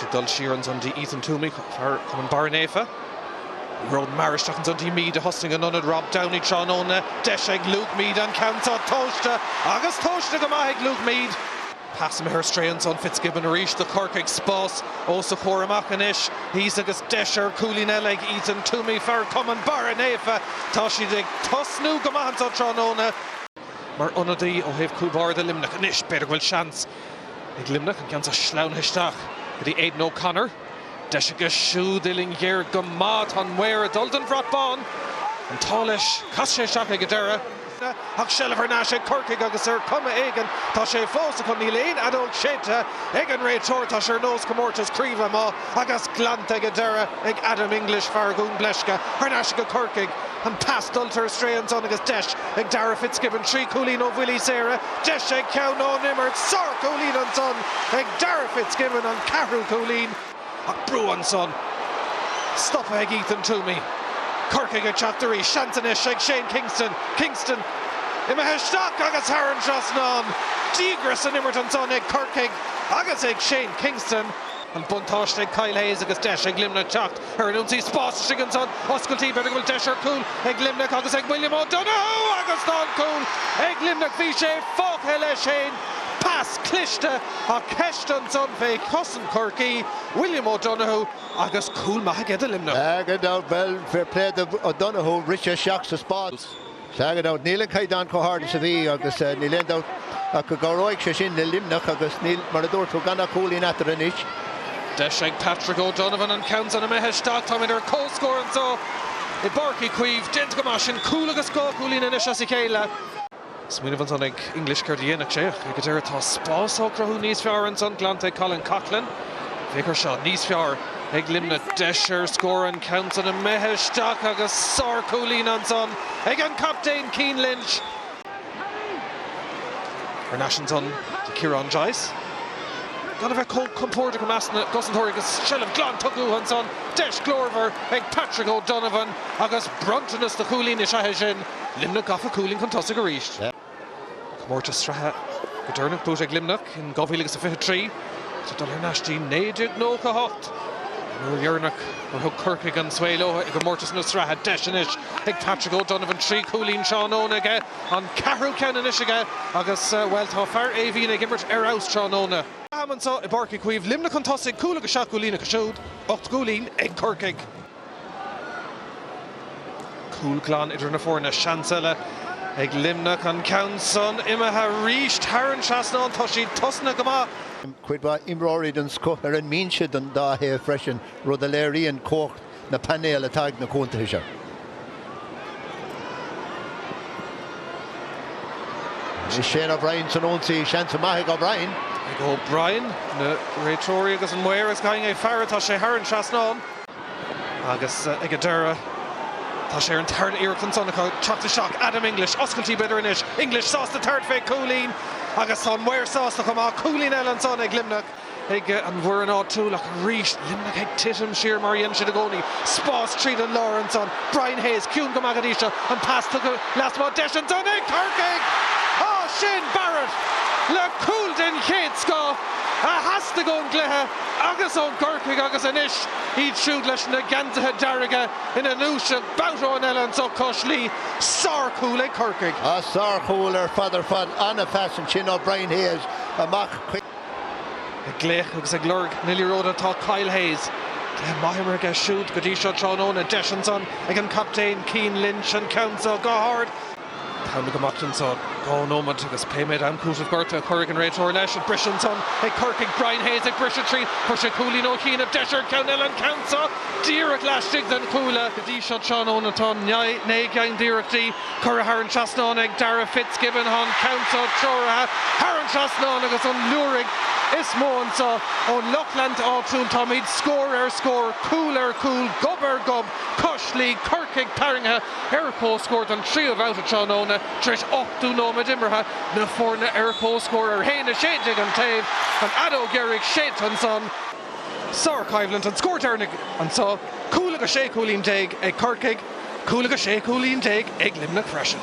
Ag dul siar ansan dtí Ethan Twomey, fear Chumann Barra Naofa, ag rómhar isteach ansan dtí Meade a thosnaigh in ionad Rob Downey tráthnóna deis ag Luke Meade an ceann seo tomhaiste agus tomhaiste go maith ag Luke Meade. Pas imithe ar strae ansan Fitzgibbon arís do Chorcaigh, spás os a chomhair amach anois thíos agus deis ar chúilín eile ag Ethan Twomey, fear Chumann Barra Naofa. Tá siad ag tosnú go maith anso tráthnóna. Mar ionadaí ó thaobh Cúl Bharda Luimneach anois b'fhéidir go bhfuil seans. Ag Luimneach, an ceann seo sleamhnaithe isteach go dtí Aidan O'Connor. Deis aige siúd, uillinn ghéar go maith. Tá an maor ag dul don bhrat bán. An t-ádh leis, chas sé isteach ag an deireadh. Ach seilbh thar n-ais ag Corcaigh agus ar chuma éigin tá sé fós acu. Níl aon fheadóg séidte ag an réiteoir. Tá sé ar nós comórtas craoibhe amach agus glanta ag an deireadh ag Adam English, fear Dhún Bleisce. Thar n-ais ag Corcaigh. An pas dulta ar strae ansan agus deis ag Darragh Fitzgibbon. Trí chúilín ó bhuillí saora. Deis ag ceann ón imirt. Sár chúilín ansan ag Darragh Fitzgibbon, an ceathrú cúilín. Ach brú ansan. Stoptha ag Ethan Twomey. Corcaigh ag teacht arís. Seans anois ag Shane Kingston. Kingston imithe isteach agus thar an trasnán. Díograis san imirt ansan ag Corcaigh agus ag Shane Kingston. An buntáiste ag Kyle Hayes agus deis ag Luimneach teacht ar an ionsaí. Spás istigh ansan. Oscailte b'fhéidir go bhfuil deis ar chúl ag Luimneach agus ag William O Donoghue agus tá an cúl ag Luimneach. Bhí sé fágtha leis fhéin. Pas cliste ach ceist ansan fé chosaint Chorcaí. William O Donoghue agus cúl maith aige do Luimneach. Gan dabht, bhuel fair play do O Donoghue, rith sé isteach sa spás. Sea, gan dabht, níl an caighdeán chomh hard is a bhí agus níl aon dabht ach go gcabhróidh sé sin le Luimneach agus níl, mar a dúirt tú, gan ach cúilín eatarthu anois. Deis ag Patrick O'Donovan an ceann san imithe isteach. Táimid ar comhscór anso i bPáirc Uí Chaoimh. Déanta go maith sin. Cúl agus dhá chúilín anois as a chéile. Smaoineamh ansan ag English céard a dhéanfadh sé ach ag an deireadh tá spás á chruthú níos fearr ansan. Glanta ag Colin Coughlan. Féach air seo níos fearr. Ag Luimneach, deis ar scór an ceann san imithe isteach agus sárchúilín ansan ag an gcaptaen Cian Lynch. Thar n-ais ansan do Ciarán Joyce. Gan a bheith chomh compórdach i measc na gcosantóirí agus seilbh glan tugtha uathu ansan, deis glórmhar ag Patrick O'Donovan agus bronntanas do chúilín is ea é sin. Luimneach gafa cúilín chun tosaigh arís. Comórtas Sraithe go deireanach buaite ag Luimneach in 2023 ach tá dul thar n-ais dtí 1998, an uair dheireanach gur thug Corcaigh an svae leo i gcomórtas na sraithe. Deis anois ag Patrick O'Donovan, trí chúilín tráthnóna aige, an ceathrú ceann anois aige agus, bhuel, tá fear Éimhín ag imirt ar fheabhas tráthnóna. Leath-am anseo i bPáirc Uí Chaoimh. Luimneach chun tosaigh, cúl agus seacht gcúilín acu siúd, ocht gcúilín ag Corcaigh. Cúl glan idir na foirne. Seans eile ag Luimneach. An ceann san imithe arís. Thar an trasnán. Tá siad tosnaithe go maith. Cuid mhaith imreoirí den scoth ar an mbinse don dá thaobh freisin, rud a léiríonn cumhacht na bpainéal atá ag na contaetha seo. Shane O'Brien san ionsaí, seans maith ag O'Brien. Ag O'Brien, na réiteoirí agus an maor ag faire, tá sé thar an trasnán agus ag an deireadh tá sé ar an tarna iarracht ansan acu teacht isteach, Adam English, oscailtí b'fhéidir anois, English sásta tabhairt fé chúilín agus tá an maor sásta chomh maith, cúilín eile ansan ag Luimneach. ag an bhfoireann áitiúil ach arís Luimneach ag titim siar mar a dhéanann siad i gcónaí. Spás tríd an lár ansan. Brian Hayes ciúin go maith go dtí seo. An pas tugtha lasmuigh. Deis ansan ag Corcaigh! Á Shane Barrett le cúl den chéad scoth a theastaigh ón gcluiche agus ó Chorcaigh agus anois iad siúd leis na geansaithe dearga ina ndúiseacht babhta amháin eile anso cois Laoi. Sárchúl ag Corcaigh. Á sárchúl ar fad ar fad. An-phas ansin ó Brian Hayes amach chuig. Ag glaoch agus ag lorg na liathróide atá Kyle Hayes. Go maith imeartha aige siúd go dtí seo tráthnóna. Deis ansan ag an gcaptaen Cian Lynch an ceann seo go hard. Tá an t-am ag imeacht anso. Dhá nóiméad agus pé méid am cúitimh gortaithe a chuirfidh an réiteoir leis. An briseadh ansan ag Corcaigh. Brian Hayes ag briseadh tríd. Chuir sé cúilín ó chianaibh. Deis air ceann eile. An ceann seo díreach laistigh den chuaille. Go dtí seo tráthnóna tá naoi gceann d'iarrachtaí Cuireadh thar an trasnán ag Darragh FitzGibbon, go hiontach treoraithe thar an trasnán agus an liúireach is mó anso ón lucht leanúna áitiúil. Táimíd scór ar scór, cúl ar chúl, gob ar ghob, cois Laoi, Corcaigh tarraingthe ar comhscór don tríú babhta tráthnóna tar éis ochtó nóiméad imeartha. Na foirne ar comhscór ar haon a sé déag an taobh, an fheadóg dheiridh séidte ansan. Sár-choimhlint, an scór deireanach anso, cúl agus sé chúilín déag ag Corcaigh. Cúl agus sé chúilín déag ag Luimneach freisin.